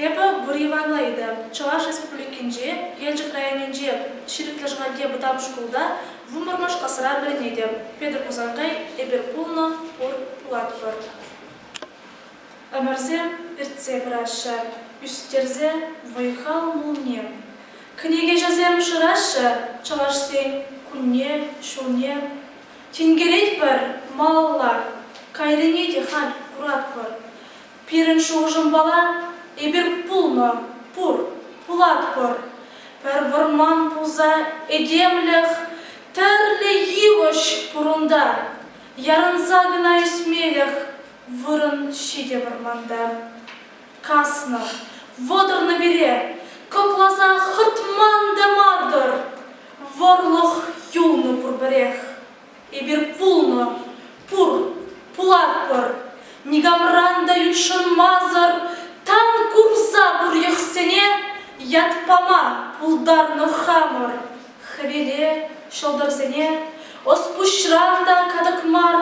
Эпӗ Буриевана ыйтӑм. Чӑваш Республикинче, Елчӗк районӗнче Ҫирӗклӗ Шӑхальте вӑтам шкулта вунпӑрмӑшкӑсра вӗренетӗп. Петӗр Хусанкай, эпир пулнӑ, пур, пулатпӑр. Ӗмӗрсем иртсе пыраҫҫӗ, ӳстерсе вӑй-хал мулне Кӗнекеҫӗсем шыраҫҫӗ Чӑвашсен кунне, ҫулне. Тинкеретпӗр малалла, кайрине те халь куратпӑр. Пирӗн шухӑшӑмпала эпир пулнӑ, пур, пулатпӑр. Пӗр вӑрман пулса этемлӗх тӗрлӗ йывӑҫ пур унта. Ярӑнса кӑна ӳсмелӗх вырӑн ҫитӗ вӑрманта. Каснӑ, вӑтӑрнӑ пире, кӑкласа хӑтман та мар-тӑр. Вӑрлӑх юлнӑ пурпӗрех. Эпир пулнӑ, пур, пулатпӑр. Никамран та ютшӑнмасӑр тан курса пур йӑхсене ят пама пултарнӑ хамӑр хӗвеле ҫӑлтӑрсене. Ӑс-пуҫран та катӑк мар,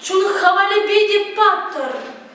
чун хавалӗпе те паттӑр.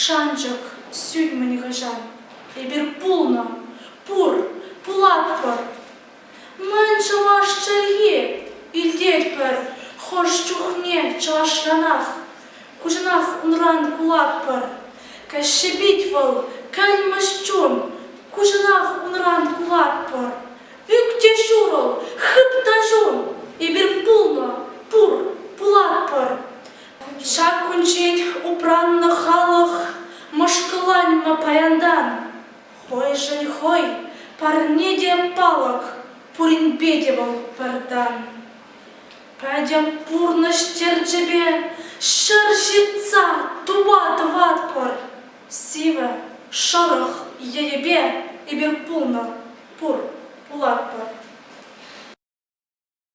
Шанчӑк сӳнмӗн хӑҫан эпир пулнӑ, пур, пулатпӑр. Мӗн чӑваш чӗлхи илтетпӗр хӑш чухне чӑвашранах, куҫанах унран кулатпӑр. Каҫҫи пит вӑл, кӗлмӗҫ чун, куҫанах унран кулатпӑр. Ӳк те ҫурӑл, хып та ҫум, эпир пулнӑ, пур, пулатпӑр. Ҫак кунччен упраннӑ халӑх мӑшкӑланнӑ паянтан. Хӑйшӗн хӑй, парне те палӑк, пуринпе те вӑл пӗртан. Пӗтӗм пурнӑҫ терчӗпе ҫӗр ҫыртса туба тӑватпӑр. Сивӗ, шӑрӑх енӗпе эпир пулнӑ, пур, пулатпӑр.